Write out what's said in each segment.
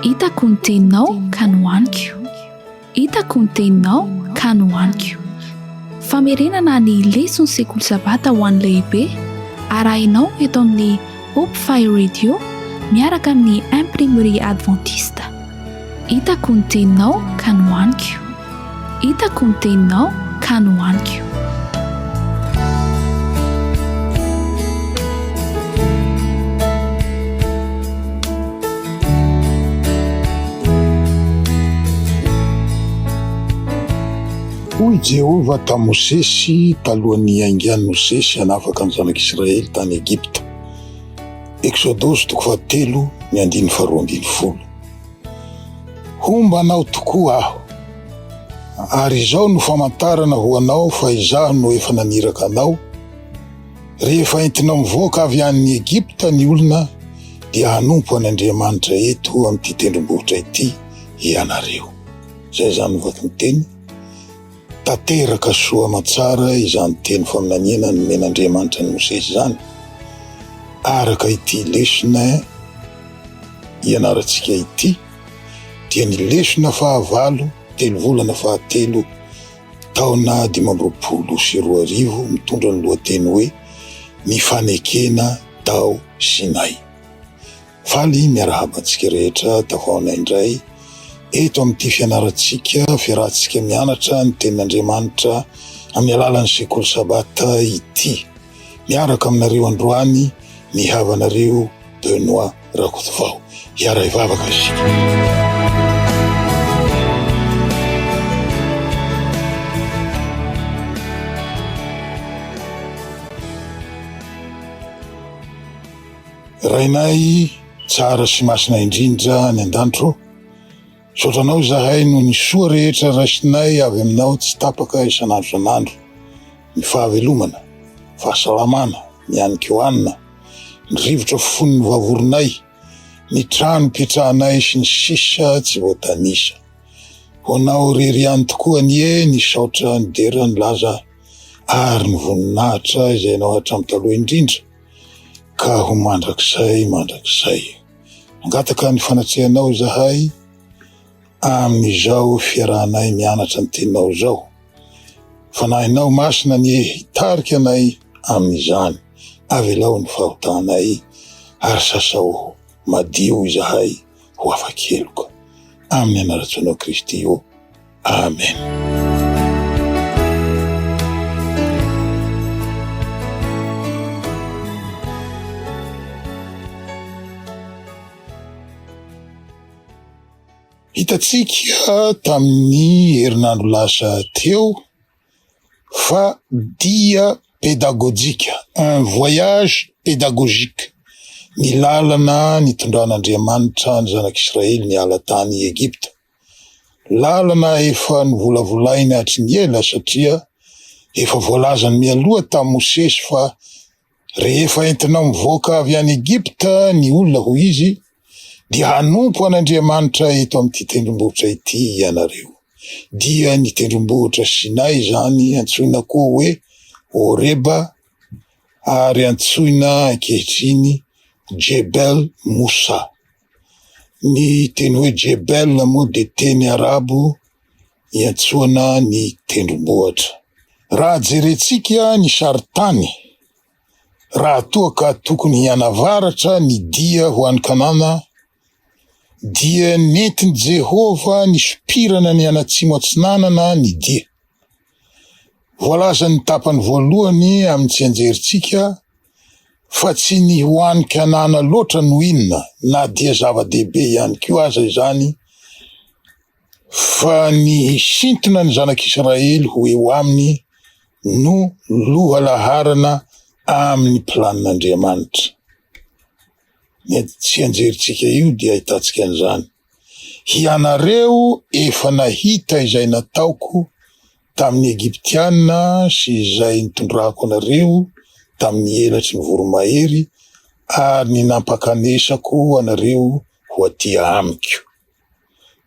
Hitako ny teninao ka nohaniko. Hitako ny teninao ka nohaniko. Famerenana ny leson'ny sekoly sabata ho an'ny lehibe arahinao eto amin'ny Hope Fire Radio miaraka amin'ny Imprimerie Adventiste. Hitako ny teninao ka nohaniko Hitako ny teninao ka nohaniko Hoy Jehovah tamin'i Mosesy talohan'ny hiaingan'i Mosesy hanafaka ny Zanak'Israely tany Egypta. Eksodosy toko fahatelo ny andininy faharoa ambin'ny folo Homba anao tokoa aho, ary izao no famantarana ho anao fa izaho no efa naniraka anao, Rehefa entinao mivoaka avy any Egypta ny olona, dia hanompo an' Andriamanitra eto amin'ity tendrombohitra ity ianareo. Izay izany ny vakin-teny. Tanteraka soa aman-tsara izany teny faminaniana nomen'Andriamanitra an'i Mosesy izany, araka ity lesona ianarantsika ity, dia ny lesona fahavalo, telo volana fahatelo, taona dimy amby roapolo sy roa arivo, mitondra ny lohateny hoe Ny fanekena tao Sinay. Faly miarahaba antsika rehetra dahona indray eto amin'ity fianarantsika, fiarahantsika mianatra ny tenin'Andriamanitra amin'ny alalan'ny sekoly sabata ity. Miaraka aminareo androany ny havanareo Benoît Rakotovao. Hiaray vavaka isika. Rainay tsara sy masina indrindra any an-danitro ô, misaotra Anao izahay noho ny soa rehetra raisinay avy Aminao tsy tapaka isan'andro isan'andro, ny fahavelomana, fahasalamana, ny hanin-ko hanina, ny rivotra fony novavorinay, ny trano ipetrahanay sy ny sisa tsy voatanisa. Ho Anao irery ihany tokoa anie ny saotra, ny dera, ny laza ary ny voninahitra izay Anao hatramin'ny taloha indrindra. ka ho mandrakizay mandrakizay. Mangataka ny fanatrehanao izahay amin'izao fiarahanay mianatra ny teninao izao. Fanahinao masina anie hitarika anay amin'izany. Avelao ny fahotanay ary sasao madio izahay ho afa-keloka. Amin'ny anaran-tsoanao Kristy ô. Amen. Hitantsika tamin'ny herinandro lasa teo fa dia pedagojika, un voyage pédagogique, ny lalana nitondran'Andriamanitra ny zanak'Israely niala tany Egypta. Lalana efa novolavolaina hatry ny ela satria efa voalazany mialoha tamin'i Mosesy fa rehefa entina mivoaka avy any Egypta ny olona, hoy izy, dia hanompo an'Andriamanitra eto amin'ity tendrombohitra ity ianareo. Dia ny tendrombohitra Sinay izany antsoina koa hoe Horeba ary antsoina ankehitriny Jebel Moussa. Ny teny hoe Jebel moa dia teny arabo iantsoana ny tendrombohitra. Raha jerentsika ny sarintany, raha toa ka tokony hianavaratra ny dia ho an'i Kanana, dia nentin'i Jehovah nisopirana ny an'atsimo-atsinanana ny dia. Voalazan'ny tapany voalohany amin'ny tsianjerintsika fa tsy ny ho an'i Kanana loatra no inona na dia zava-dehibe ihany koa aza izany fa ny hisintona ny zanak'Israely ho eo aminy no lohalaharana amin'ny planin'Andriamanitra. Ny tsianjerintsika io dia ahitantsika an'izany. Hianareo efa nahita izay nataoko tamin'ny Egyptiana sy izay nitondrako anareo tamin'ny elatry ny voromahery ary ny nampakanesako anareo ho aty amiko.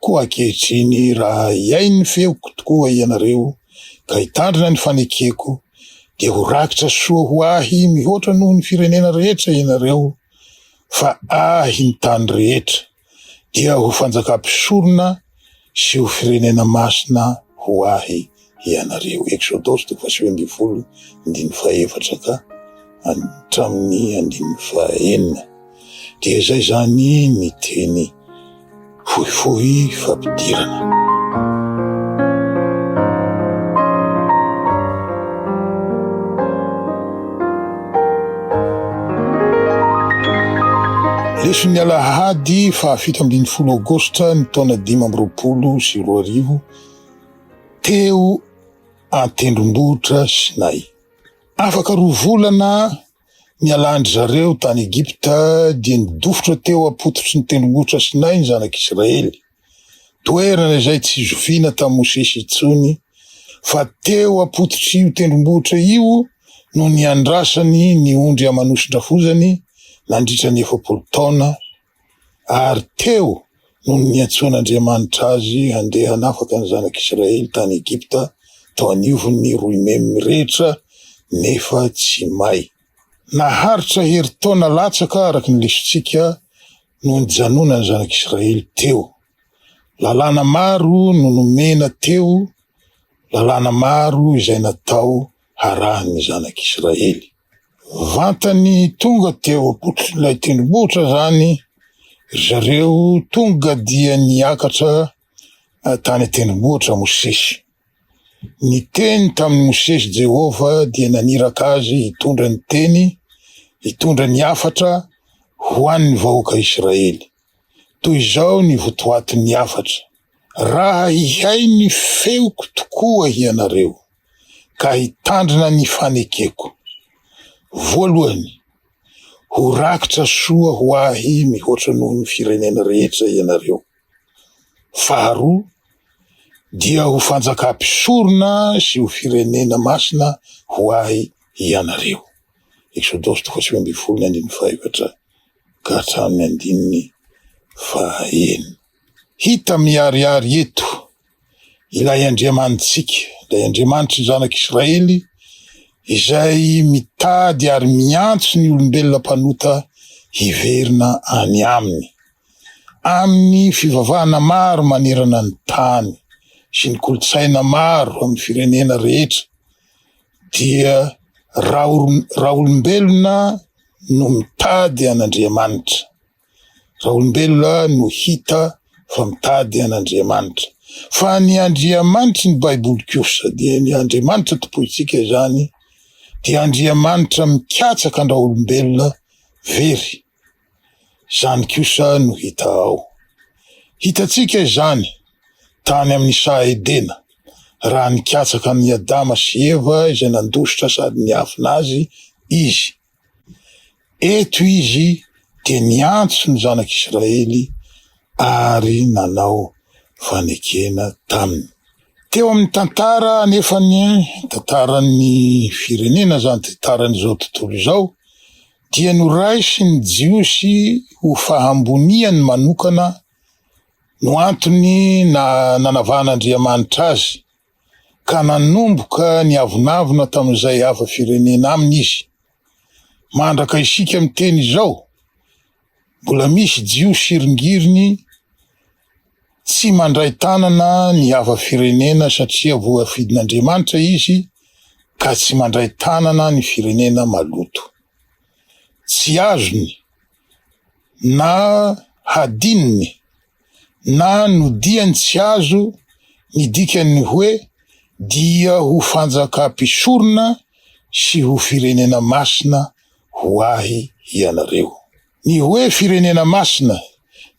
Koa ankehitriny raha hihaino ny feoko tokoa hianareo ka hitandrina ny fanekeko dia ho rakitra soa ho ahy mihoatra noho ny firenena rehetra hianareo fa ahy ny tany rehetra. dia ho fanjakam-pisorona sy ho firenena masina ho Ahy ianareo. Eksodosy toko fahasivy ambin'ny folo, andininy fahaefatra ka hatramin'ny andininy fahaenina. Dia izay izany ny teny fohifohy fampidirana. Leson'ny Alahady fahafito ambin'ny folo Aogositra ny taona dimy amby roapolo sy roa arivo, teo an-tendrombohitra Sinay. Afaka roa volana nialan-dry zareo tany Egypta dia nidofotra teo am-pototry ny tendrombohitra Sinay ny zanak'Israely. toerana izay tsy zoviana tamin'i Mosesy intsony, fa teo am-pototr'io tendrombohitra io no niandrasany ny ondry aman'oson-drafozany nandritra ny efapolo taona, ary teo no niantsoan'Andriamanitra azy handeha hanafaka ny zanak'Israely tany Egypta tao anivon'ny roimemy mirehitra, nefa tsy may. Naharitra herintaona latsaka, araka ny lesontsika, no nijanonan'ny zanak'Israely teo. Lalàna maro no nomena teo, lalàna maro izay natao harahin'ny zanak'Israely. Vantany tonga teo am-pototrin'ilay tendrombohitra izany ry zareo, tonga dia niakatra tany an-tendrombohitra Mosesy. Niteny tamin'i Mosesy Jehovah dia naniraka azy hitondra ny teny, hitondra ny hafatra ho an'ny vahoaka Israely. Toy izao ny votoatin'ny hafatra, Raha hihay ny feoko tokoa hianareo, ka hitandrina ny fanekeko, voalohany, ho rakitra soa ho ahy mihoatra noho ny firenena rehetra ianareo. Faharoa dia ho fanjaka mpisorona sy ho firenena masina ho Ahy ianareo. Eksodosy toko sivy ambin'ny folo ny andininy fahefatra ka hatramin'ny andininy fahaenina. Hita miharihary eto Ilay Andriamanitsika, ilay Andriamanitry ny Zanak'Israely izay mitady ary miantso ny olombelona mpanota hiverina any Aminy. Amin'ny fivavahana maro manerana ny tany sy ny kolontsaina maro amin'ny firenena rehetra dia raolombelona no mitady an'Andriamanitra. Raolombelona no hita fa mitady an'Andriamanitra. Fa ny Andriamanitry ny Baiboly kosa, dia ny Andriamanitra tompointsika izany, dia Andriamanitra mikatsaka an-dRaolombelona very. Izany kosa no hita ao. Hitantsika izany tany amin'ny saha Edena, raha nikatsaka an'i Adama sy Eva izay nandositra sady niafina azy izy. Eto izy dia niantso ny zanak'Israely ary nanao fanekena taminy. Teo amin'ny tantara anefa ny tantaran'ny firenena izany tantaran'izao tontolo izao dia noraisin'ny Jiosy ho fahamboniany manokana no antony nanavahan'Andriamanitra azy. ka nanomboka niavonavona tamin'izay hafa firenena aminy izy. Mandraka isika miteny izao, mbola misy Jiosy iringiriny tsy mandray tanana ny hafa firenena satria voafidin'Andriamanitra izy ka tsy mandray tanana ny firenena maloto. Tsy azony na hadinony na nodiany tsy azo ny dikan'ny hoe dia ho fanjakà-mpisorona sy ho firenena masina ho ahy ianareo. Ny hoe firenena masina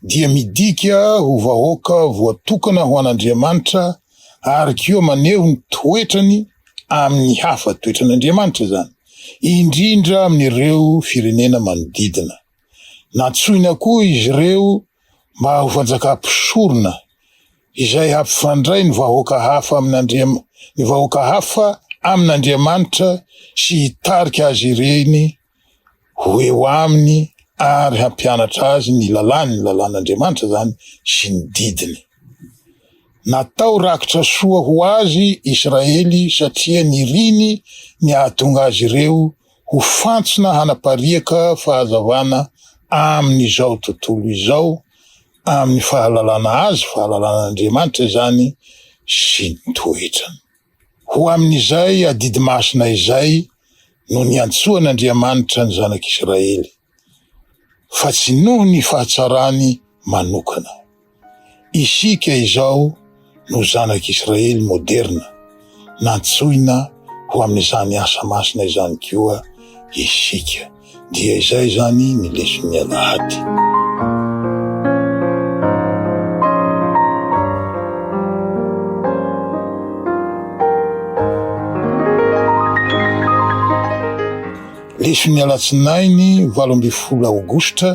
dia midika ho vahoaka voatokana ho an'Andriamanitra Ary koa maneho ny toetrany amin'ny hafa, toetran'Andriamanitra izany, indrindra amin'ireo firenena manodidina. Nantsoina koa izy ireo mba ho fanjaka mpisorona, izay hampifandray ny vahoaka hafa amin'Andriamanitra sy hitarika azy ireny ho eo aminy ary hampianatra azy ny lalàny, lalàn'Andriamanitra izany, sy ny didiny. Natao rakitra soa ho azy Israely satria niriny ny hahatonga azy ireo ho fantsona hanapariaka fahazavana amin'izao tontolo izao, amin'ny fahalalana Azy, fahalalan'Andriamanitra izany, sy ny toetrany. Ho amin'izay adidy masina izay no niantsoan'Andriamanitra ny zanak'Israely, fa tsy noho ny fahatsarany manokana. Isika izao no zanak'Israely moderina, nantsoina ho amin'izany asa masina izany koa isika. Dia izay izany ny leson'ny alahady. Leson'ny alatsinainy valo ambin'ny folo aogositra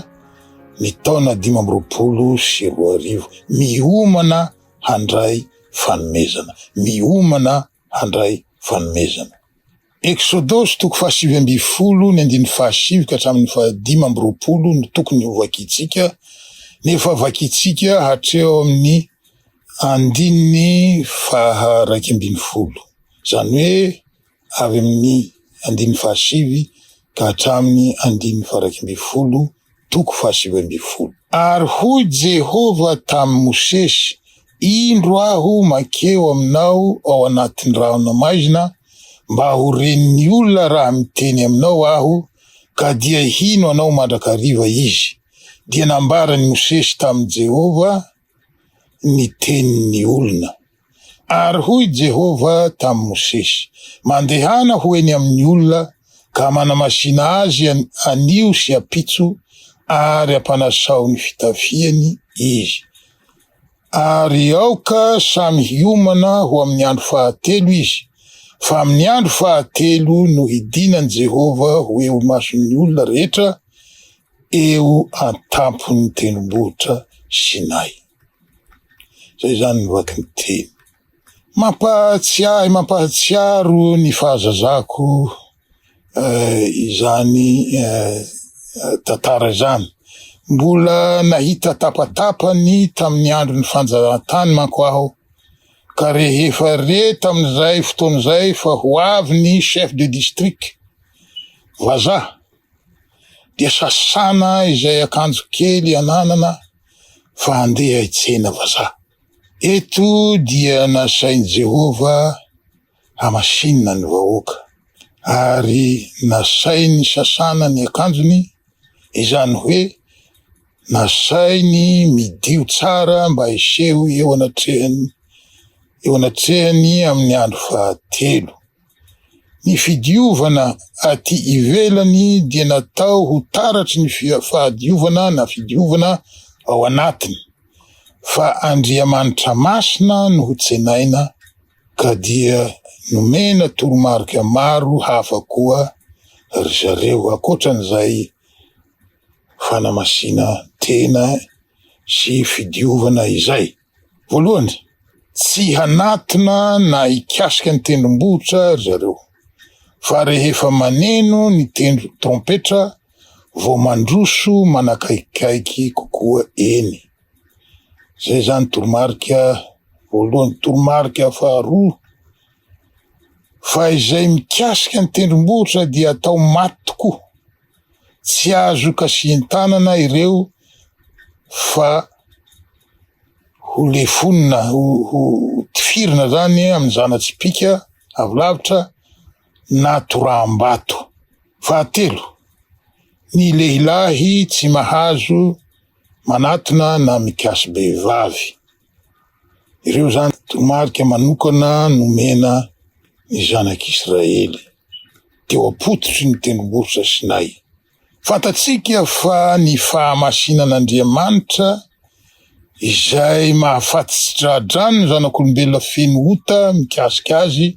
ny taona dimy amby roapolo sy roa arivo. Miomana handray fanomezana. Miomana handray fanomezana. Eksodosy toko fahasivy ambin'ny folo, ny andininy fahasivy ka hatramin'ny fahadimy amby roapolo no tokony ho vakintsika, nefa vakintsika hatreo amin'ny andininy faha iraika ambin'ny folo. Izany hoe avy amin'ny andininy fahasivy ka hatramin'ny andininy faha iraika ambin'ny folo toko fahasivy ambin'ny folo. Ary hoy Jehovah tamin'i Mosesy, Indro aho mankeo aminao ao anatin'ny rahona maizina, mba ho ren'ny olona raha miteny aminao aho, ka dia hino anao mandrakariva izy. Dia nambaran'i Mosesy tamin'i Jehovah. ny tenin'ny olona. Ary hoy Jehovah tamin'i Mosesy, Mandehana ho eny amin'ny olona ka manamasìna azy anio sy ampitso ary ampanasao ny fitafiany izy. Ary aoka samy hiomana ho amin'ny andro fahatelo izy, fa amin'ny andro fahatelo no hidinan'i Jehovah ho eo imason'ny olona rehetra eo an-tampon'ny tendrombohitra Sinay. Izay izany ny vaky ny teny. Mampahatsiahy, mampahatsiaro ny fahazazako eh, izany eh, tantara izany. Mbola nahita tapatapany tamin'ny andron'ny fanjahantany manko aho, ka rehefa re tamin'izay fotoana izay fa ho avy ny chef de district vazaha dia sasana izay akanjo kely ananana fa handeha hitsena vazaha. Eto dia nasain'i Jehovah hamasinina ny vahoaka, ary nasainy sasana ny akanjony, izany hoe nasainy midio tsara mba hiseho eo anatrehan'ny eo anatrehan'ny amin'ny andro fahatelo. Ny fidiovana aty ivelany dia natao ho taratry ny fahadiovana na fidiovana ao anatiny, fa Andriamanitra masina no ho tsenaina ka dia nomena toromarika maro hafa koa ry zareo ankoatran'izay fanamasinan-tena sy fidiovana izay. Voalohany, tsy hanatona na hikasika ny tendrombohitra ry zareo, fa rehefa maneno ny tendro trompetra vao mandroso manakaikikaiky kokoa eny. Izay izany toromarika voalohany. Toromarika faharoa, fa izay mikasika ny tendrombohitra dia atao maty tokoa. Tsy azo kasihin-tanana ireo fa ho lefonina, ho tifirina zany amin'ny zana-tsipìka avy lavitra na toraham-bato. Fahatelo, ny lehilahy tsy mahazo manatona na mikasi-behivavy. Ireo izany toromarika manokana nomena ny zanak'Israely teo am-pototry ny tendrombohitra Sinay. Fantatsika fa ny fahamasinan'Andriamanitra izay mahafaty tsy tra-drano ny zanak'olombelona feno ota mikasika azy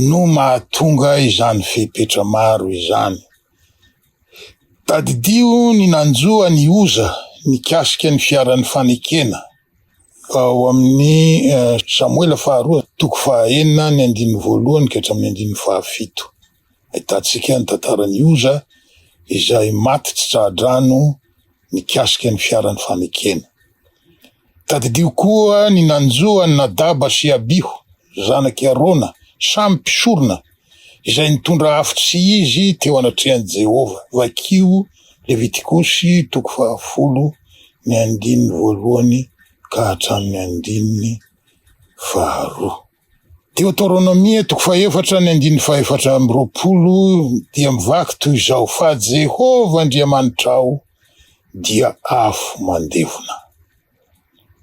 no mahatonga izany fepetra maro izany. Tadidio ny nanjo an'i Oza nikasika ny fiaran'ny fanekena, ao amin'ny Samoela faharoa toko fahaenina ny andininy voalohany ka hatramin'ny andininy fahafito. Ahitantsika ny tantaran'i Oza izay maty tsy tra-drano mikasika ny fiaran'ny fanekena. Tadidio koa ny nanjo an'i Nadaba sy Abiho, zanak'i Arona, samy mpisorona, izay nitondra afo tsy izy teo anatrehan'i Jehovah. Vakio Levitikosy toko fahafolo, ny andininy voalohany ka hatramin'ny andininy faharoa. Deoteronomia, toko fahefatra, ny andininy fahefatra amby roapolo, dia mivaky toy izao, Fa Jehovah Andriamanitrao dia afo mandevona.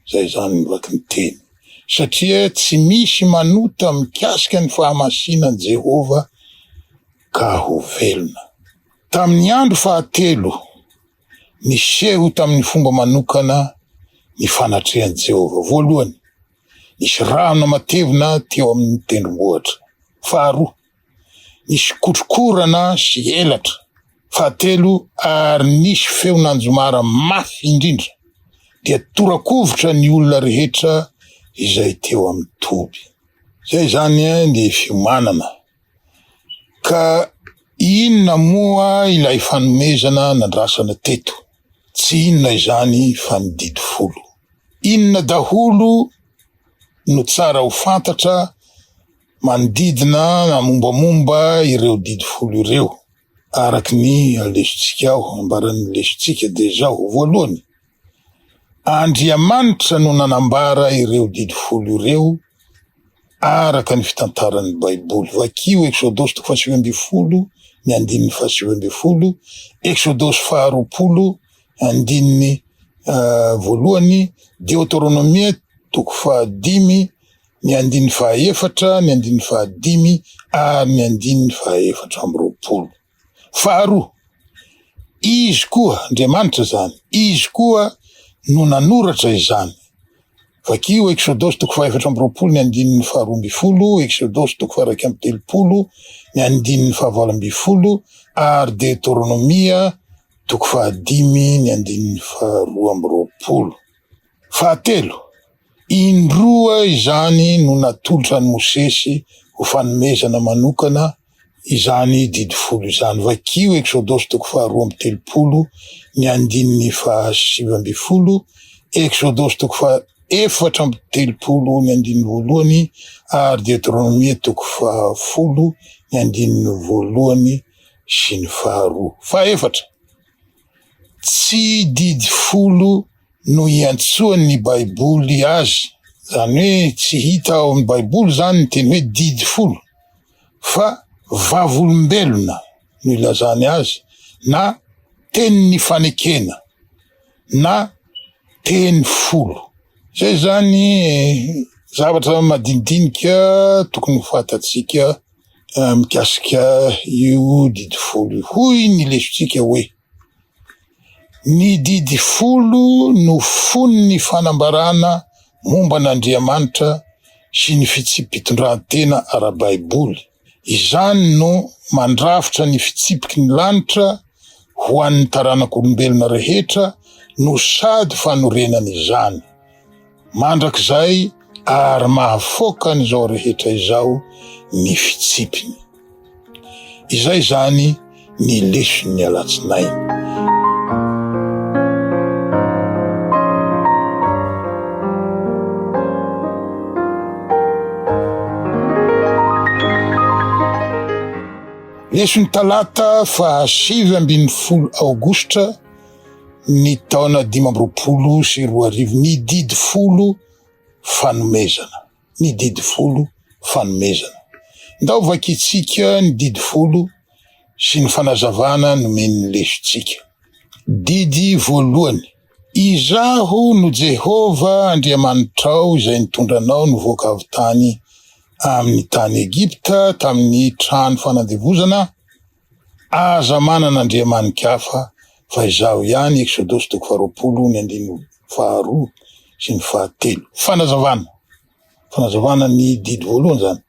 Izay izany ny vakin'ny teny. Satria tsy misy manota mikasika ny fahamasinan'i Jehovah ka ho velona. Tamin'ny andro fahatelo, niseho tamin'ny fomba manokana ny fanatrehan'i Jehovah. Voalohany, Nisy rano matevina teo amin' ny tendrombohitra. Faharoa, nisy kotrokorana sy elatra. Fahatelo, ary nisy feon' anjomara mafy indrindra, dia tora-kovitra ny olona rehetra izay teo amin' ny toby. Izay izany ny fiomanana Ka inona moa ilay fanomezana nandrasana teto? Tsy inona izany fa ny didy folo. Inona daholo no tsara ho fantatra manodidina na mombamomba ireo didy folo ireo? Araka ny lesontsika ao, ambaran'ny lesontsika dia izao, voalohany, Andriamanitra no nanambara ireo didy folo ireo araka ny fitantaran'ny Baiboly. Vakio Eksodosy toko fahasivy ambin'ny folo ny andininy fahasivy ambin'ny folo, Eksodosy faharoapolo andininy uh, voalohany, Deoteronomia toko fahadimy ny andininy fahaefatra, ny andininy fahadimy ary ny andininy fahaefatra amby roapolo. Faharoa, Izy koa, Andriamanitra izany, Izy koa no nanoratra izany. Vakio Eksodosy toko fahefatra amby roapolo ny andininy faharoa ambin'ny folo, Eksodosy toko faha-iraika amby telopolo ny andininy fahavalo ambin'ny folo ary Deoteronomia toko fahadimy ny andininy faharoa amby roapolo. Fahatelo, Indroa izany no natolotra an'i Mosesy ho fanomezana manokana izany didy folo izany. Vakio Eksodosy toko faharoa amby telopolo ny andininy fahasivy ambin'ny folo, Eksodosy toko fahaefatra amby telopolo ny andininy voalohany ary Deoteronomia toko fahafolo ny andininy voalohany sy ny faharoa. Fahefatra, tsy didy folo no iantsoan'ny Baiboly azy, izany hoe tsy hita ao amin'ny Baiboly izany ny teny hoe didy folo. fa vavolombelona no ilazany azy na teny nifanekena na teny folo. Izay izany zavatra madinidinika tokony ho fantatsika mikasika io didy folo io. Hoy ny lesontsika hoe. Ny didy folo no fonon'ny fanambarana momba an'Andriamanitra sy ny fitsipi-pitondran-tena ara-baiboly. Izany no mandrafitra ny fitsipiky ny lanitra ho an'ny taranak'olombelona rehetra no sady fanorenana izany. mandrakizay ary mahafoaka an'izao rehetra izao ny fitsipiny. Izay izany ny leson'ny alatsinainy. Leson'ny talata fahasivy ambin'ny folo aogositra ny taona dimy amby roapolo sy roa arivo, ny didy folo fanomezana, ny didy folo fanomezana. Ndao vakintsika ny didy folo sy ny fanazavana nomen'ny lesotsika. Didy voalohany, Izaho no Jehovah Andriamanitrao izay nitondra anao nivoaka avy tany amin'ny tany Egypta, tamin'ny trano fanandevozana, Aza manana andriamani-kafa fa izaho ihany Eksodosy toko faharoapolo ny andininy faharoa sy ny fahatelo. Fanazavana. Fanazavana ny didy voalohany izany.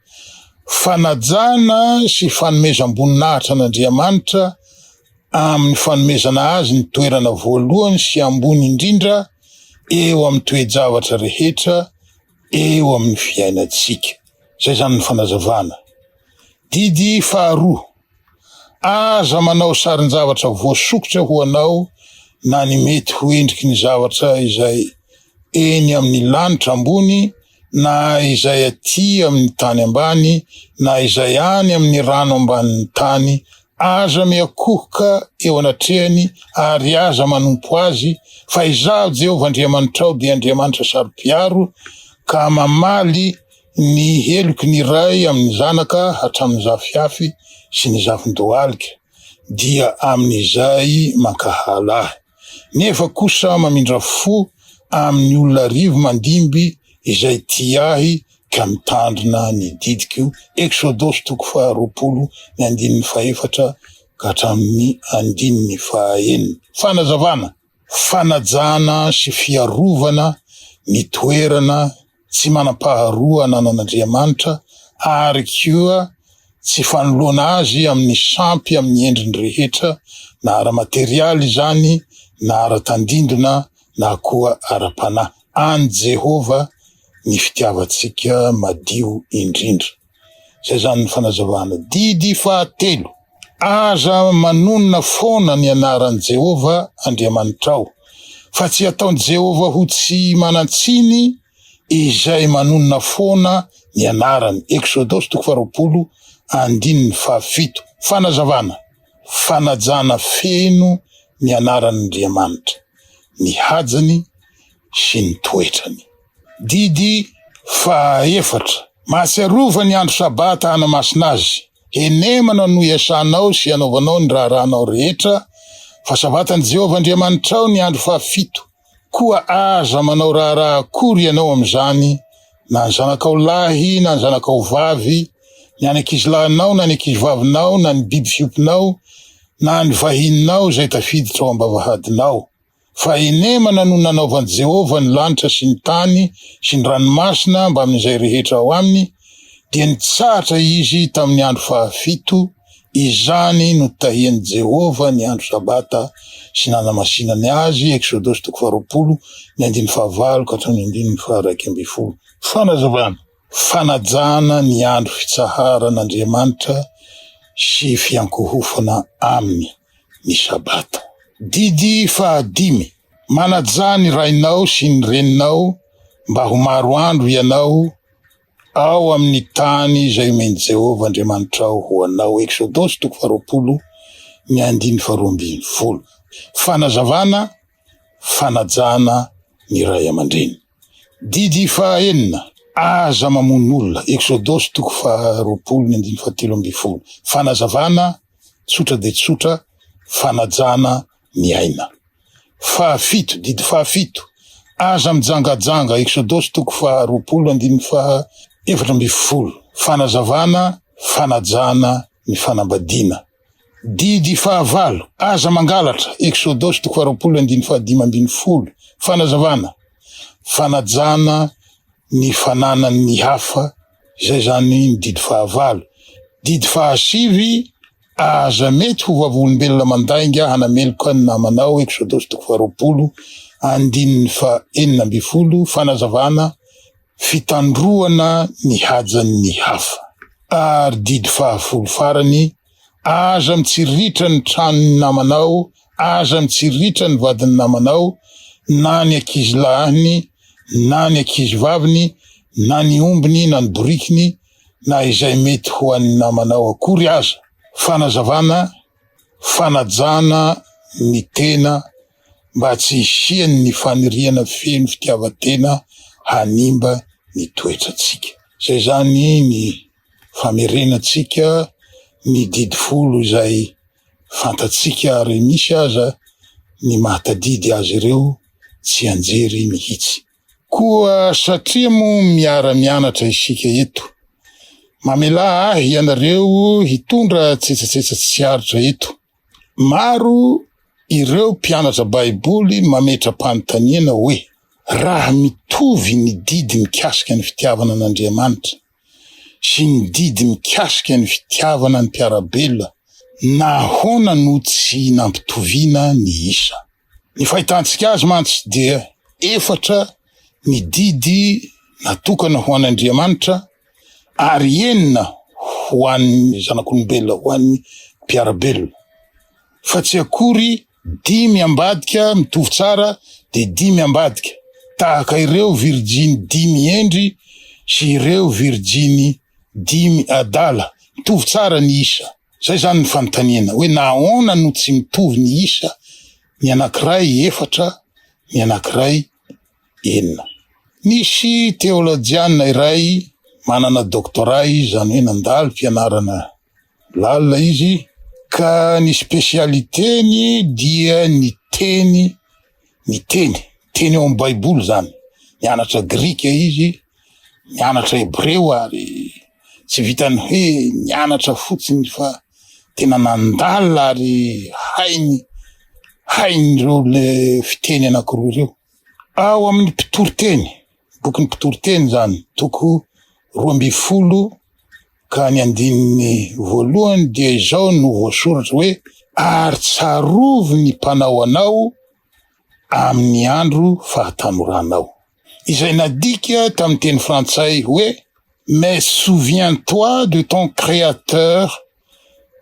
Fanajana sy fanomezam-boninahitra an'Andriamanitra amin'ny fanomezana Azy ny toerana voalohany sy ambony indrindra eo amin'ny toe-javatra rehetra eo amin'ny fiainantsika. Izay izany ny fanazavana. Didy faharoa, Aza manao sarin-javatra voasokitra ho anao na ny mety ho endriky ny zavatra izay eny amin'ny lanitra ambony na izay aty amin'ny tany ambany na izay any amin'ny rano ambanin'ny tany Aza miakohoka eo anatrehany ary aza manompo azy, fa Izaho, Jehovah Andriamanitrao, dia Andriamanitra saro-piaro, ka mamaly ny heloky ny ray amin'ny zanaka hatramin'ny zafihafy sy ny zavon-dohalika, dia amin'izay mankahala Ahy. nefa kosa mamindra fo amin'ny olona arivo mandimby izay tia ahy ka mitandrina ny didiko, Eksodosy toko faharoapolo ny andininy fahefatra ka hatramin'ny andininy fahaenina. Fanazavana, fanajana sy fiarovana ny toerana tsy manam-paharoa ananan'Andriamanitra ary koa tsy fanoloana azy amin'ny sampy amin'ny endriny rehetra, na ara-materialy izany, na ara-tandindona, na koa ara-panahy. An'i Jehovah ny fitiavantsika madio indrindra. Izay izany ny fanazavana. Didy fahatelo, Aza manonona foana ny anaran'i Jehovah Andriamanitrao, fa tsy ataon'i Jehovah ho tsy manan-tsiny izay manonona foana ny anarany. Eksodosy toko faharoapolo andininy fahafito. Fanazavana, Fanajana feno ny anaran'Andriamanitra, ny hajany sy ny toetrany. Didy fahaefatra, Mahatsiarova ny andro Sabata hanamasina azy. Henemana no iasanao sy anaovanao ny raharahanao rehetra, fa Sabatan'i Jehovah Andriamanitrao ny andro fahafito. Koa aza manao raharaha akory ianao amin'izany, na ny zanakao lahy na ny zanakao vavy, ny any ankizilahinao na ny ankizivavinao, na ny biby fiompinao, na ny vahininao izay tafiditra ao am-bavahadinao. Fa enemana no nanaovan'i Jehovah ny lanitra sy ny tany sy ny ranomasina mbamin'izay rehetra ao aminy, dia nitsahatra izy tamin'ny andro fahafito, izany no tahian'i Jehovah ny andro Sabata sy nanamasinany azy, Eksodosy toko faharoapolo, ny andininy fahavalo ka hatramin'ny andininy faharaika ambin'ny folo. Fanazavana, Fanajana ny andro fitsaharan'Andriamanitra sy fiankohofana Aminy ny Sabata. Didy fahadimy, Manajà ny rainao sy ny reninao mba ho maro andro ianao ao amin'ny tany izay omen'i Jehovah Andriamanitrao ho anao, Eksodosy toko faharoapolo, ny andininy faharoa ambin'ny folo. Fanazavana, Fanajana ny ray aman-dreny. Didy faha enina, Aza mamono olona, Eksodosy toko faha roapolo ny andininy fahatelo ambin'ny folo, Fanazavana tsotra dia tsotra, Fanajana ny aina. Faha fito, Didy faha fito, Aza mijangajanga, Eksodosy toko faha roapolo andininy faha efatra ambin'ny folo, Fanazavana, Fanajana ny fanambadiana. Didy fahavalo, Aza mangalatra, Eksodosy toko faharoapolo andininy fahadimy ambin'ny folo, Fanazavana, Fanajana ny fananan'ny hafa, izay izany ny didy fahavalo. Didy fahasivy, Aza mety ho vavolombelona mandainga hanameloka ny namanao, Eksodosy toko faharoapolo andininy fahenina ambin'ny folo, Fanazavana, Fitandroana ny hajan'ny hafa. Ary didy fahafolo farany, Aza mitsiriritra ny tranon'ny namanao, aza mitsiriritra ny vadin'ny namanao, na ny ankizy lahiny, na ny ankizy vaviny, na ny ombiny, na ny borikiny, na izay mety ho an'ny namanao akory aza. Fanazavana, Fanajana ny tena mba tsy hisian'ny faniriana feno fitiavan-tena hanimba ny toetrantsika. Izay izany ny famerenantsika ny didy folo izay fantatsika ary misy aza ny mahatadidy azy ireo tsianjery mihitsy. Koa satria moa miara-mianatra isika eto, mamelà ahy ianareo hitondra tsetsatsetsa tsy aritra eto. Maro ireo mpianatra Baiboly mametra-panontaniana hoe, Raha mitovy ny didy mikasika ny fitiavana an'Andriamanitra sy ny didy mikasika ny fitiavana ny mpiara-belona, nahoana no tsy nampitoviana ny isa? Ny fahitantsika azy mantsy dia efatra ny didy natokana ho an'Andriamanitra ary enina ho an'ny zanak'olombelona, ho an'ny mpiara-belona. Fa tsy akory dimy ambadika mitovy tsara dia dimy ambadika, tahaka ireo virjiny dimy hendry sy ireo virjiny dimy adala, mitovy tsara ny isa. Zay zany ny fanontaniana hoe nahaona no tsy mitovy ny isa, ny anankiray efatra, ny anankiray enina. Nisy teolojiana iray manana doctorat izy, izany hoe nandalo fianarana lalina izy, ka ny specialiteny dia ny teny. miteny teny ao amin'ny Baiboly izany. Nianatra grika izy, nianatra hebreo ary tsy vitan'ny hoe nianatra fotsiny fa tena nandalina ary hainy hainy ireo le fiteny anankiroa ireo. Ao amin'ny mpitoriteny bokin'ny mpitoriteny izany, toko roa ambin'ny folo ka ny andininy voalohany dia izao no voasoratra hoe ary tsarovy ny mpanao anao amin'ny andro fahatanoranao, izay nadika tamin'ny teny frantsay hoe mais souviens-toi de ton créateur.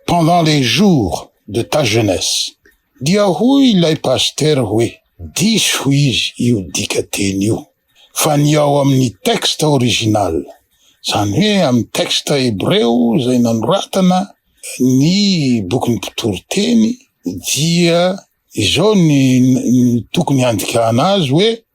pendant les jours de ta jeunesse dia hoy ilay pasitera hoe diso hoy izy io dikateny io fa ny ao amin'ny texte original izany hoe amin'ny texte hebreo izay nanoratana ny bokin'ny mpitoriteny dia izao ny tokony handikana azy hoe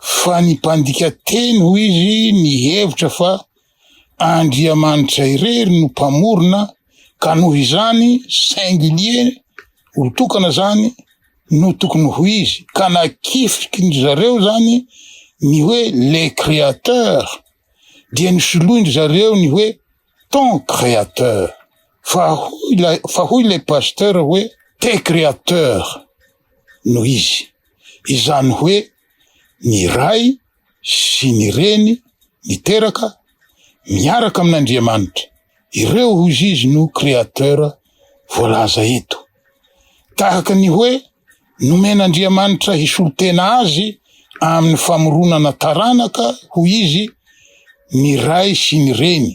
fa ny mpandika teny hoy izy nihevitra fa Andriamanitra irery no mpamorona ka noho izany singulier olo tokana zany no tokony ho izy ka nakifiky ny zareo zany ny hoe le créateur dia nisoloin-dry zareo ny hoe Ton créateur fa hoy ilay fa hoy ilay pasteur hoe te créateur no izy izany hoe ny ray sy ny reny miteraka miaraka amin'Andriamanitra ireo hozy izy no créateur voalaza eto tahaka ny hoe Nomen'Andriamanitra hisolo tena azy amin'ny famoronana taranaka, hoy izy, ny ray sy ny reny,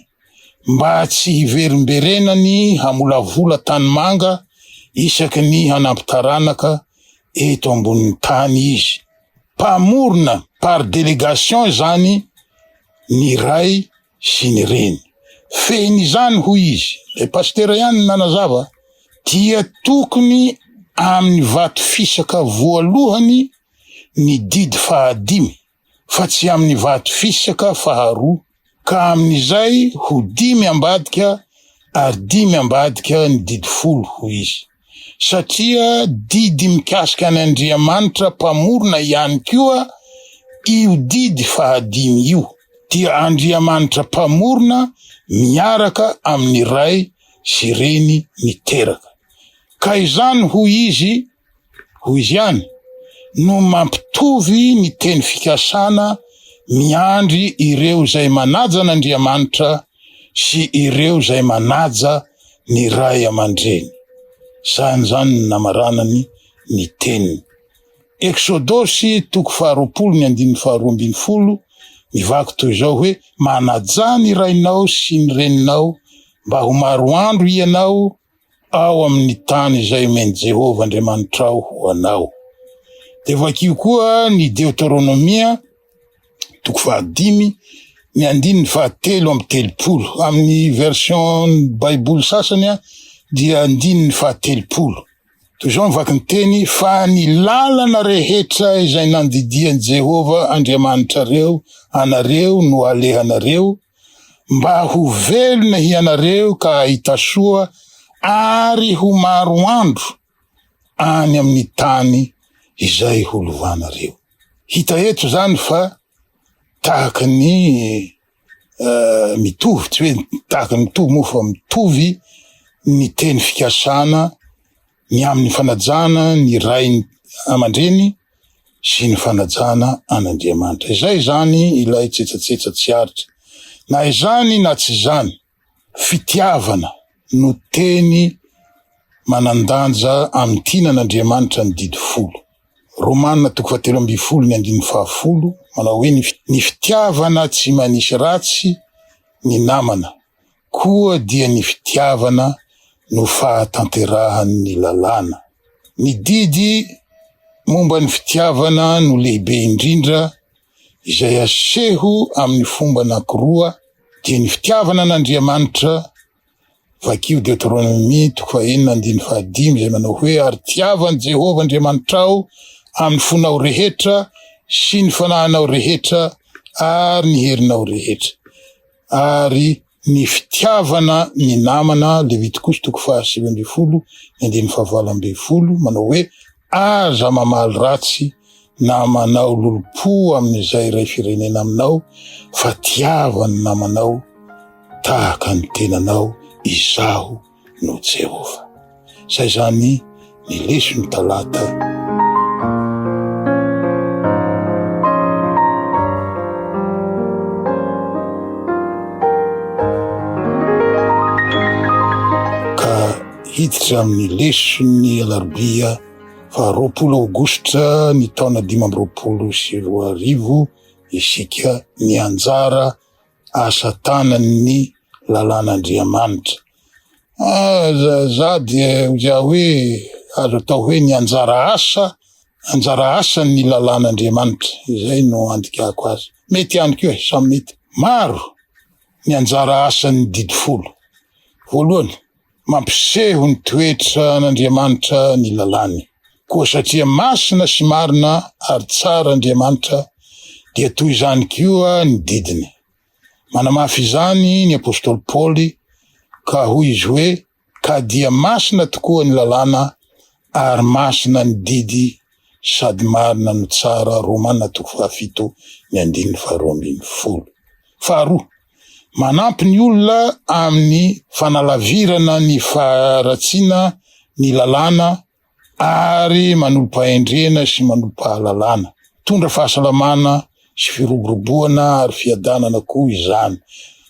mba tsy hiverimberenany hamolavola tanimanga isaky ny hanampy taranaka eto ambonin'ny tany izy. Mpamorona par délégation izany ny Ray sy ny reny. Fehiny izany hoy izy, ilay pasitera ihany no nanazava, dia tokony amin'ny vato fisaka voalohany ny didy fahadimy fa tsy amin'ny vato fisaka faharoa, ka amin'izay ho dimy ambadika ary dimy ambadika ny didy folo hoy izy. satria didy mikasika an' Andriamanitra Mpamorona ihany koa io didy fahadimy io, dia Andriamanitra Mpamorona miaraka amin' ny Ray sy Reny miteraka, ka izany, hoy izy, hoy izy ihany, no mampitovy ny teny fikasana miandry ireo izay manaja an' Andriamanitra sy ireo izay manaja ny ray aman-dreny. Sahy izany ny namaranany ny teniny. Eksodosy toko faharoapolo ny andininy faharoa ambin'ny folo mivaky toy izao hoe, Manajà ny rainao sy ny reninao, mba ho maro andro hianao ao amin'ny tany izay omen'i Jehovah Andriamanitrao ho anao. Dia vakio koa ny Deoteronomia, toko fahadimy, ny andininy fahatelo amby telopolo. Amin'ny version Baiboly sasany dia andininy fahatelopolo. Toy izao ny vaky ny teny, fa ny lalana rehetra izay nandidian'i Jehovah Andriamanitrareo anareo no alehanareo, mba ho velona hianareo ka hahita soa ary ho maro andro any amin'ny tany izay holovanareo. Hita eto izany fa tahaka ny mitovy, tsy hoe tahaka ny mitovy moa fa mitovy ny teny fikasana ny amin'ny fanajana ny ray aman-dreny sy ny fanajana an'Andriamanitra. Izay izany ilay tsetsatsetsa tsy aritra. Na izany na tsy izany, fitiavana no teny manan-danja amin'ny tiana an'Andriamanitra ny Didy Folo. Romana toko fahatelo ambin'ny folo ny andininy fahafolo manao hoe ny fitiavana tsy manisy ratsy ny namana Koa dia ny fitiavana no fahatanterahan' ny lalàna. Ny didy momba ny fitiavana no lehibe indrindra, izay aseho amin' ny fomba anankiroa, dia ny fitiavana an' Andriamanitra, vakio Deoteronomia toko fahenina andininy fahadimy izay manao hoe, Ary tiavo an' i Jehovah Andriamanitrao amin' ny fonao rehetra sy ny fanahinao rehetra ary ny herinao rehetra. ary ny fitiavana ny namana, Levitikosy toko fahasivy ambin'ny folo ny andininy fahavalo ambin'ny folo, manao hoe, Aza mamaly ratsy na manao lolompo amin'izay iray firenena aminao, fa tiava ny namanao tahaka ny tenanao, Izaho no Jehovah. Izay izany ny leson' Talata. Ka hiditra amin' ny leson' ny Alarobia faha roapolo Aogositra ny taona dimy amby roapolo sy roa arivo isika mianjara asa tanany ny lalàn'Andriamanitra. Aza za dia za hoe azo atao hoe ny anjara asa anjara asan'ny lalàn'Andriamanitra izay no andikako azy. Mety ihany koa e, samy mety. Maro ny anjara asan'ny didy folo. Voalohany, Mampiseho ny toetra an'Andriamanitra ny lalàny. Koa satria masina sy marina ary tsara Andriamanitra, dia toy izany koa ny didiny. Manamafy izany ny apostoly Paoly, ka hoy izy hoe, Ka dia masina tokoa ny lalàna, ary masina ny didy, sady marina no tsara. Romana toko fahafito, ny andininy faharoa ambin'ny folo. Faharoa. Manampy ny olona amin'ny fanalavirana ny faharatsiana ny lalàna ary manolo-pahendrena sy manolo-pahalalana. Mitondra fahasalamana sy firoboroboana ary fiadanana koa izany.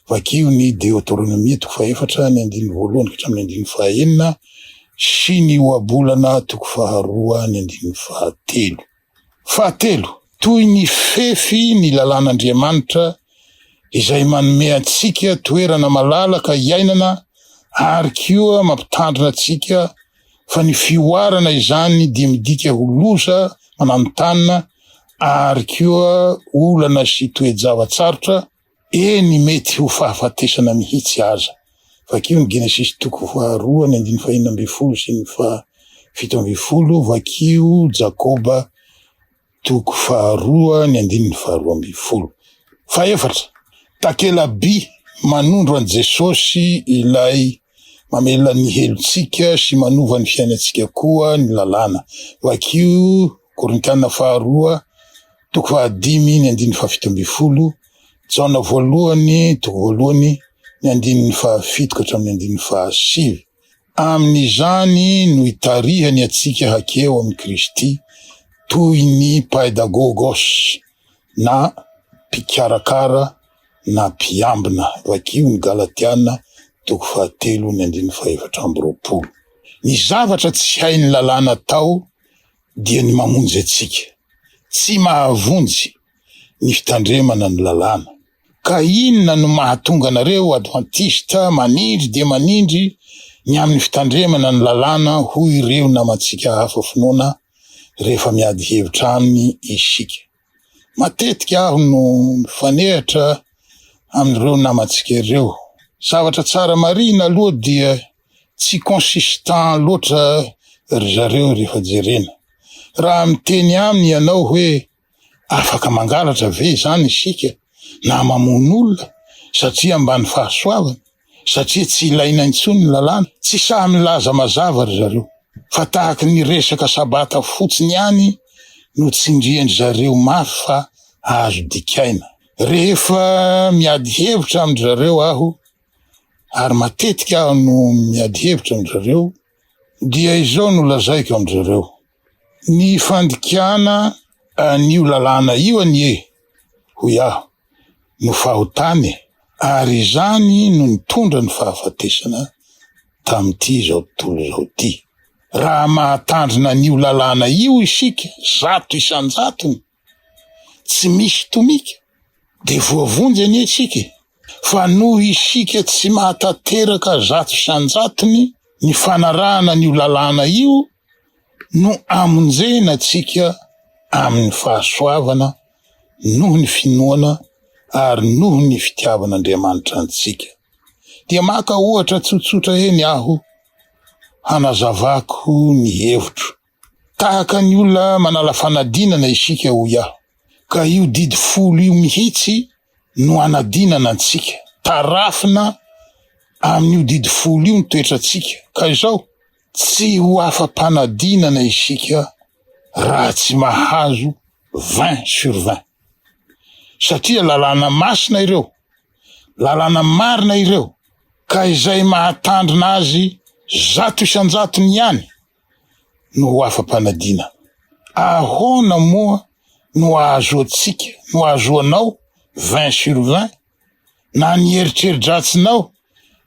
Vakio ny Deoteronomia toko fahefatra ny andininy voalohany ka hatramin'ny andininy fahaenina sy ny Ohabolana toko faharoa ny andininy fahatelo. Fahatelo, toy ny fefy ny lalàn'Andriamanitra izay manome antsika toerana malalaka hiainana ary koa mampitandrina antsika fa ny fihoarana izany dia midika ho loza mananontanona ary koa olana sy toe-java-tsarotra Eny, mety ho fahafatesana mihitsy aza. Vakio ny Genesisy toko faharoa ny andininy fahenina ambin'ny folo sy ny fahafito ambin'ny folo, vakio Jakoba toko faharoa ny andininy faharoa ambin'ny folo. Fahefatra, takela-by manondro an'i Jesosy ilay mamelona ny helotsika sy manova ny fiainantsika koa ny lalàna, vakio Korintiana faharoa Toko fahadimy ny andininy fahafito ambin'ny folo, Jaona voalohany, toko voalohany, ny andininy fahafito ka hatramin'ny andininy fahasivy. Amin'izany no itarihany antsika hakeo amin'i Kristy toy ny paidagogos na mpikarakara na mpiambina, vakio ny Galatiana, toko fahatelo ny andininy fahefatra amby roapolo. Ny zavatra tsy hain'ny lalàna atao dia ny mamonjy antsika. Tsy mahavonjy ny fitandremana ny lalàna. Ka inona no mahatonga anareo Advantista manindry dia manindry ny amin'ny fitandremana ny lalàna hoy ireo namantsika hafa finoana rehefa miady hevitra aminy isika? Matetika aho no mifanehatra amin'ireo namantsika ireo. Zavatra tsara marihina aloha dia tsy consistant loatra ry zareo rehefa jerena. Raha miteny aminy ianao hoe afaka mangalatra ve izany isika na mamono olona satria ambany fahasoavana? satria tsy ilaina intsony ny lalàna? Tsy sahy milaza mazava ry zareo, fa tahaky ny resaka sabata fotsiny ihany no tsindrian-dry zareo mafy fa azo dikaina. Rehefa miady hevitra amin-dry zareo aho, ary matetika aho no miady hevitra amin-dry zareo, dia izao no lazaiko amin-dry zareo, Ny fandikana an'io lalàna io anie, hoy aho, no fahotana e! Ary izany no nitondra ny fahafatesana tamin'ity izao tontolo izao ity. Raha mahatandrina an'io lalàna io isika zato isan-jatony, tsy misy tomika dia voavonjy anie isika e! Fa noho isika tsy mahatanteraka zato isan-jatony ny fanarahana an'io lalàna io no amonjena antsika amin'ny fahasoavana noho ny finoana ary noho ny fitiavan'Andriamanitra antsika. Dia maka ohatra tsotsotra eny aho hanazavako ny hevitro. Tahaka ny olona manala fanadinana isika hoy aho, ka io didy folo io mihitsy no hanadinana antsika, tarafina amin'io didy folo io ny toetrantsika, ka izao, tsy ho afa-panadinana isika raha tsy mahazo vingt sur vingt, satria lalàna masina ireo, lalàna marina ireo, ka izay mahatandrina azy zato isan-jatony ihany no ho afa-panadina. Ahoana moa no ahazoantsika, no ahazoanao vingt sur vingt? Na ny eritreri-dratsinao,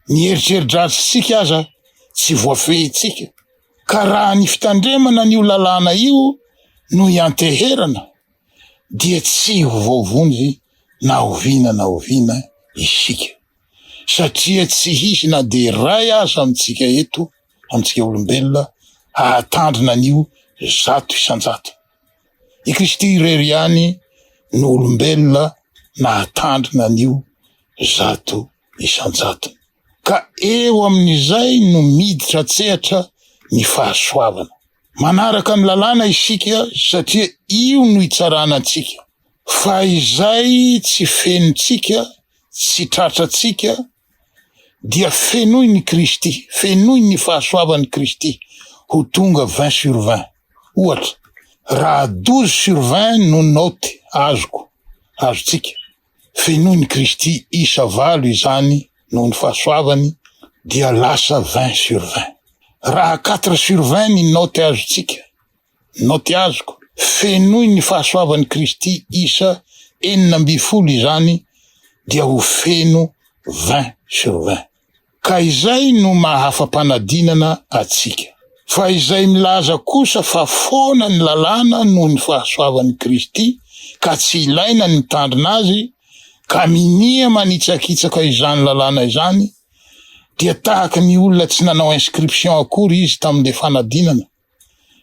ny eritreri-dratsintsika aza tsy voafehintsika. Ka raha ny fitandremana an'io lalàna io no ianteherana dia tsy ho voavonjy na oviana na oviana isika, satria tsy hisy na dia iray aza amintsika eto antsika olombelona hahatandrina an'io zato isan-jato. I Kristy irery ihany no olombelona nahatandrina an'io zato isan-jatony. Ka eo amin'izay no miditra an-tsehatra ny fahasoavana. Manaraka ny lalàna isika satria io no itsarana antsika. Fa izay tsy fenontsika, tsy tratrantsika, dia fenoin' i Kristy, fenoin' ny fahasoavan' i Kristy ho tonga vingt sur vingt. Ohatra, raha douze sur vingt no naoty azoko, azontsika, fenoin' i Kristy isa valo izany noho ny fahasoavany dia lasa vingt sur vingt. Raha quatre sur vingt ny naoty azontsika, Naoty azoko, Fenoy ny fahasoavan'i Kristy isa enina ambin'ny folo izany dia ho feno vingt sur vingt. Ka izay no maha afa-panadinana antsika. Fa izay milaza kosa fa foana ny lalàna noho ny fahasoavan'i Kristy ka tsy ilaina ny mitandrina azy ka minia manitsakitsaka izany lalàna izany dia tahaka ny olona tsy nanao inscription akory izy tamin'ilay fanadinana,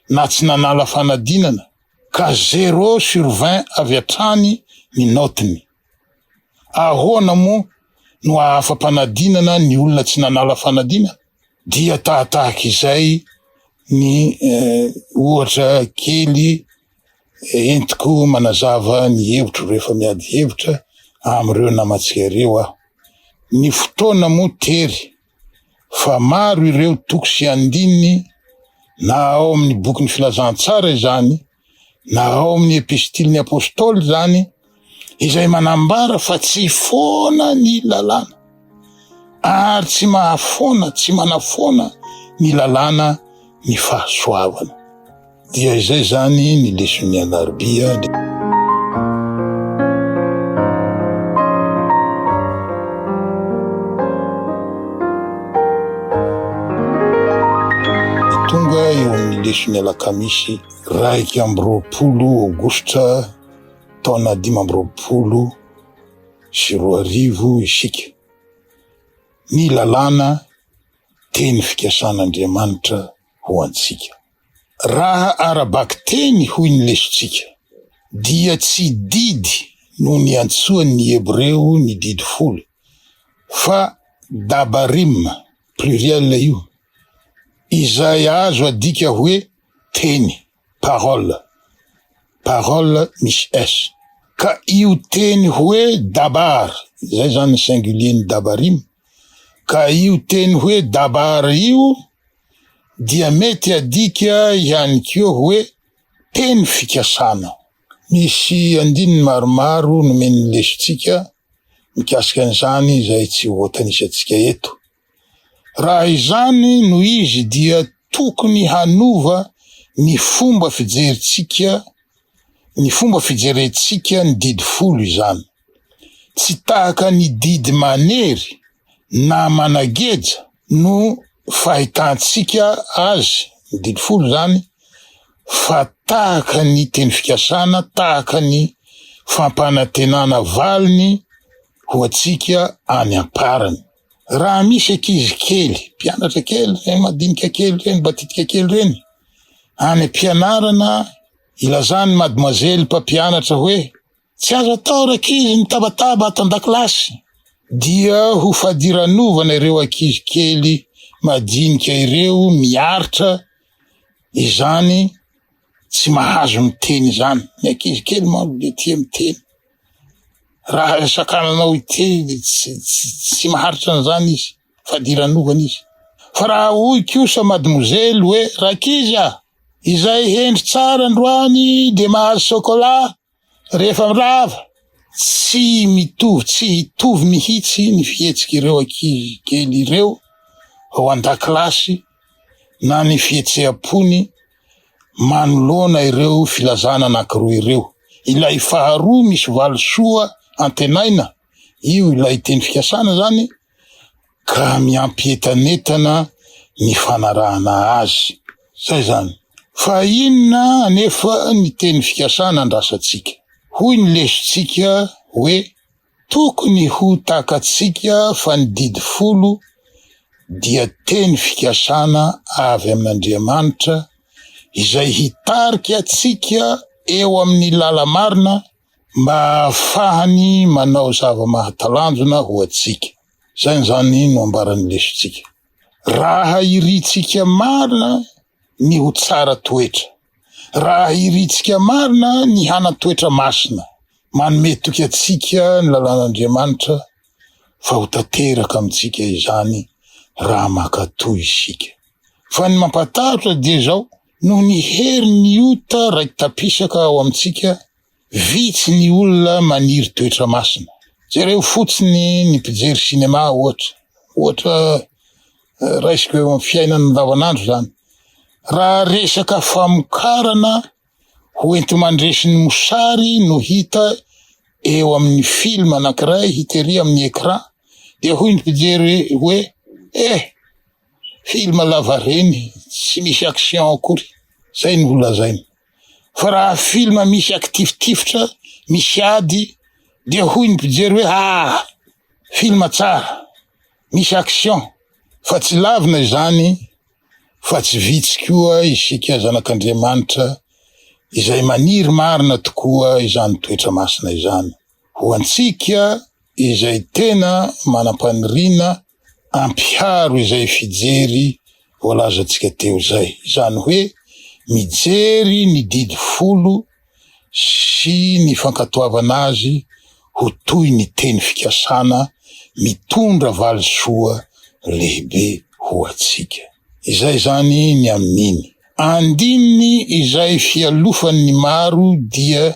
na tsy nanala fanadinana ka zero sur vingt avy hatrany ny naotiny. Ahoana moa no hahafa-panadinana ny olona tsy nanala fanadinana? Dia tahatahaka izay ny ohatra kely entiko manazava ny hevitro rehefa miady hevitra amin'ireo namantsika ireo aho. Ny fotoana moa tery fa maro ireo toko sy andininy na ao amin'ny bokin'ny Filazantsara izany na ao amin'ny Epistilin'ny Apôstôly izany izay manambara fa tsy foana ny lalàna ary tsy mahafoana, tsy manafoana ny lalàna ny fahasoavana. Dia izay izany ny leson'ny alarobia. Tonga eo amin'ny leson'ny alakamisy iraika amby roapolo aogositra taona dimy amby roapolo sy roa arivo isika. Ny lalàna, teny fikasan'Andriamanitra ho antsika. Raha ara-bakiteny hoy ny lesontsika, dia tsy didy no niantsoan'ny Hebreo ny didy folo, fa dabarim, pluriel io, izay azo adika hoe teny. parole, parole misy s. Ka io teny hoe dabar, zay zany ny singulier ny dabarim, ka io teny hoe dabar io dia mety adika ihany koa hoe teny fikasana. Misy andininy maromaro nomen'ny lesotsika mikasika an'izany izay tsy ho voatanisantsika eto. Raha izany no izy dia tokony hanova ny fomba fijerintsika ny fomba fijerentsika ny didy folo izany. Tsy tahaka ny didy manery na manageja no fahitantsika azy ny didy folo izany fa tahaka ny teny fikasana, tahaka ny fampanantenana valiny ho antsika any am-parany. Raha misy ankizy kely, mpianatra kely reny, madinika kely reny, mbatitika kely reny, any am-pianarana ilazan'ny mademoiselle mpampianatra hoe tsy azo atao rakizy mitabataba ato an-dakilasy dia ho fadiranovana ireo ankizy kely madinika ireo miaritra izany Tsy mahazo miteny izany. Ny ankizy kely manko dia tia miteny. Raha sakananao hiteny dia tsy, tsy, tsy maharitra an'izany izy, fadiranovana izy. Fa raha hoy kosa madmozely hoe, Rankizy a! Izay hendry tsara androany dia mahazo chocolat, Rehefa mirava, tsy mitovy, tsy hitovy mihitsy ny fihetsik'ireo ankizy kely ireo ao an-dakilasy na ny fihetseham-pony manoloana ireo filazana anankiroa ireo. Ilay faharoa misy valisoa antenaina, io ilay teny fikasana izany, ka miampy entanentana ny fanarahana azy. Izay izany. Fa inona anefa ny teny fikasana andrasantsika? Hoy ny lesontsika hoe tokony ho takatsika fa ny didy folo dia teny fikasana avy amin'Andriamanitra izay hitarika antsika eo amin'ny lala-marina, mba hahafahany manao zava-mahatalanjona ho antsika. Izany izany no ambaran'ny lesontsika. Raha irintsika marina ny ho tsara toetra, raha irintsika marina ny hanan-toetra masina, manome toky antsika ny lalàn'Andriamanitra fa ho tanteraka amintsika izany raha mankatò isika. Fa ny mampatahotra dia izao, Noho ny herin'ny ota raiki-tapisaka ao amintsika, vitsy ny olona maniry toetra masina. Jereo fotsiny ny mpijery sinema, ohatra. Ohatra eh, raisiko eo amin'ny fiainana andavanandro izany. Raha resaka famokarana ho enti-mandresy ny mosary no hita eo amin'ny film anankiray hitery amin'ny écran, dia hoy ny mpijery hoe eh, Film lavareny tsy misy action akory zay no holazaina fa raha film misy akitifitifitra misy ady dia hoy ny mpijery hoe aah film tsara misy action fa tsy lavina izany fa tsy vitsy koa isika zanak'Andriamanitra izay maniry marina tokoa izany toetra masina izany ho antsika izay tena manam-paniriana Ampiharo izay fijery voalazantsika teo izay, izany hoe mijery ny didy folo sy ny fankatoavana azy ho toy ny teny fikasana mitondra valisoa lehibe ho antsika. Izay izany ny amin'iny andininy izay fialofan'ny maro dia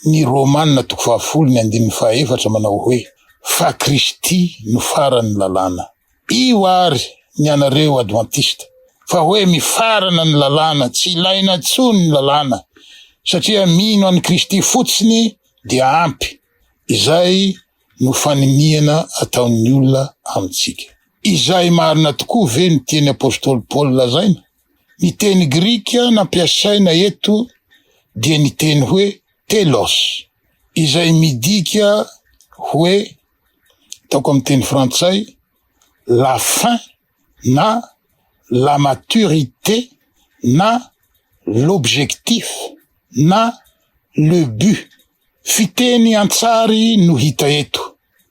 Ny Romana toko fahafolo ny andininy fahaefatra manao hoe, Fa Kristy no faran'ny lalàna. Io ary ny anareo Advantista, fa hoe mifarana ny lalàna, tsy ilaina intsony ny lalàna, satria mino an'i Kristy fotsiny dia ampy. Izay no faniniana ataon'ny olona amintsika. Izay marina tokoa ve ny tian'i apostoly Paoly lazaina? Ny teny grika nampiasaina eto dia ny teny hoe telos, izay midika hoe ataoko amin'ny teny frantsay la fin na la maturité na l'objectif na le but. Fiteny an-tsary no hita eto,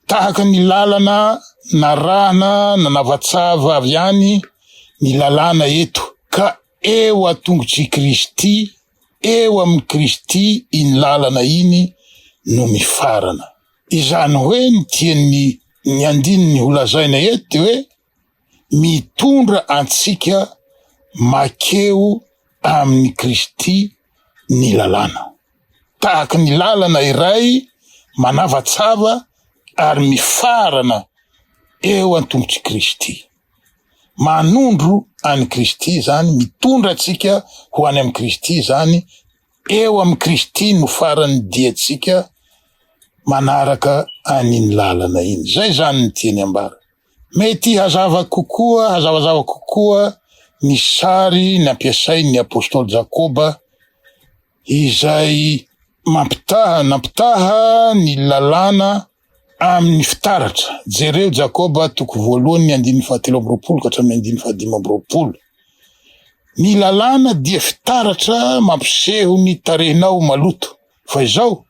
tahaka ny lalana narahana nanavatsava avy any ny lalàna eto ka eo an-tongotr'i Kristy, eo amin'i Kristy iny lalana iny no mifarana. Izany hoe ny tian'ny ny andininy holazaina eto dia hoe mitondra antsika makeo amin'i Kristy ny lalàna. Tahaka ny lalana iray manavatsava ary mifarana eo an-tongotr'i Kristy. Manondro an'i Kristy izany, mitondra antsika ho any amin'i Kristy izany, eo amin'i Kristy no faran'ny diantsika manaraka an'iny lalana iny. Izay izany ny tiany ambara. Mety hazava kokoa, hazavazava kokoa ny sary nampiasain'ny apostoly Jakoba, izay mampitaha, nampitaha ny Lalàna amin'ny fitaratra. Jereo Jakoba toko voalohany ny andininy fahatelo amby roapolo ka hatramin'ny andininy fahadimy amby roapolo. Ny Lalàna dia fitaratra mampiseho ny tarehinao maloto. Fa izao,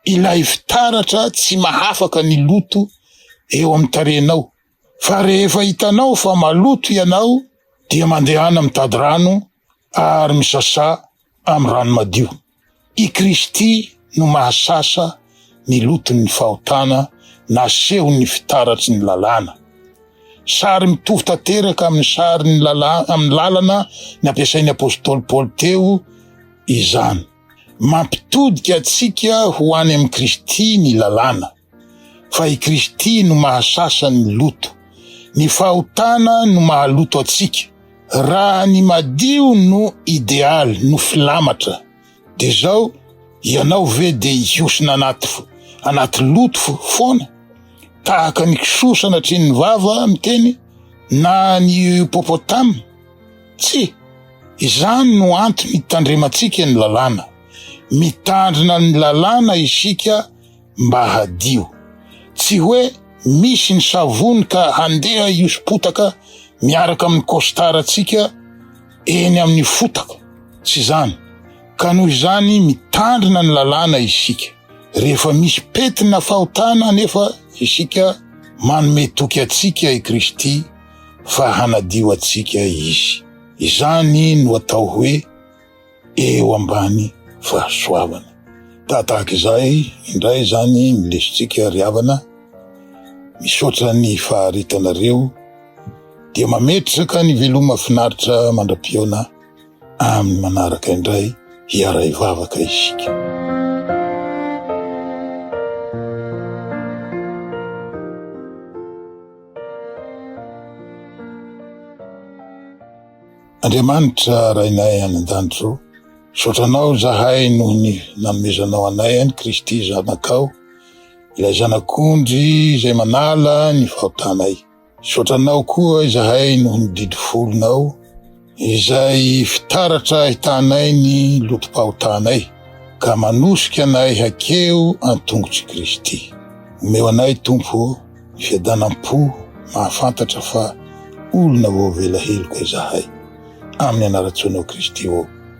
ilay fitaratra tsy mahafaka ny loto eo amin'ny tarehinao. Fa rehefa hitanao fa maloto ianao dia mandehana mitady rano ary misasà amin'ny rano madio. I Kristy no mahasasa ny loton'ny fahotana nasehon'ny fitaratry ny lalàna. Sary mitovy tanteraka amin'ny sarin'ny lalàna amin'ny lalana nampiasain'ny apostoly Paoly teo izany. Mampitodika antsika ho any amin'i Kristy ny lalàna, fa i Kristy no mahasasa ny loto. Ny fahotana no mahaloto antsika. Raha ny madio no idealy, no filamatra, dia zao, ianao ve dia hihosona anaty anaty loto foana, tahaka ny kisoa sanatria ny vava miteny, na ny hiopopotama? Tsia, izany no antony itandremantsika ny lalàna. Mitandrina ny lalàna isika mba hadio. Tsy hoe misy ny savony ka handeha hihoso-potaka miaraka amin'ny kositarantsika eny amin'ny fotaka, tsy izany. Ka noho izany mitandrina ny lalàna isika. Rehefa misy pety na fahotana anefa isika, manome toky antsika i Kristy. fa hanadio antsika izy. Izany no atao hoe eo ambany fahasoavana. Tahaka izay indray izany ny lesontsika ry havana, misaotra ny faharitanareo dia mametraka ny veloma finaritra mandra-pihaona amin'ny manaraka indray hiara-hivavaka isika. Andriamanitra Rainay any an-danitra ô, misaotra Anao izahay noho ny nanomezanao anay an'i Kristy Zanakao, ilay Zanak'ondry izay manala ny fahotanay. Misaotra Anao koa izahay noho ny didy folonao. izay fitaratra ahitanay ny lotom-pahotanay, ka manosika anay hakeo an-tongotr'i Kristy. Omeo anay, Tompo ô, ny fiadanam-po mahafantatra fa olona voavela heloka izahay. Amin'ny anaran-tsoanao Kristy ô.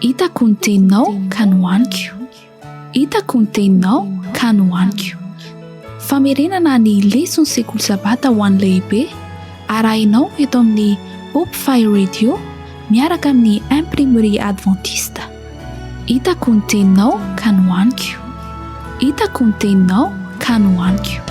Hitako ny teninao ka nohaniko Hitako ny teninao ka nohaniko Famerenana ny leson'ny sekoly sabata ho an'ny lehibe arahinao eto amin'ny Hope Fire Radio miaraka amin'ny Imprimerie Adventiste. Hitako ny teninao ka nohaniko Hitako ny teninao ka nohaniko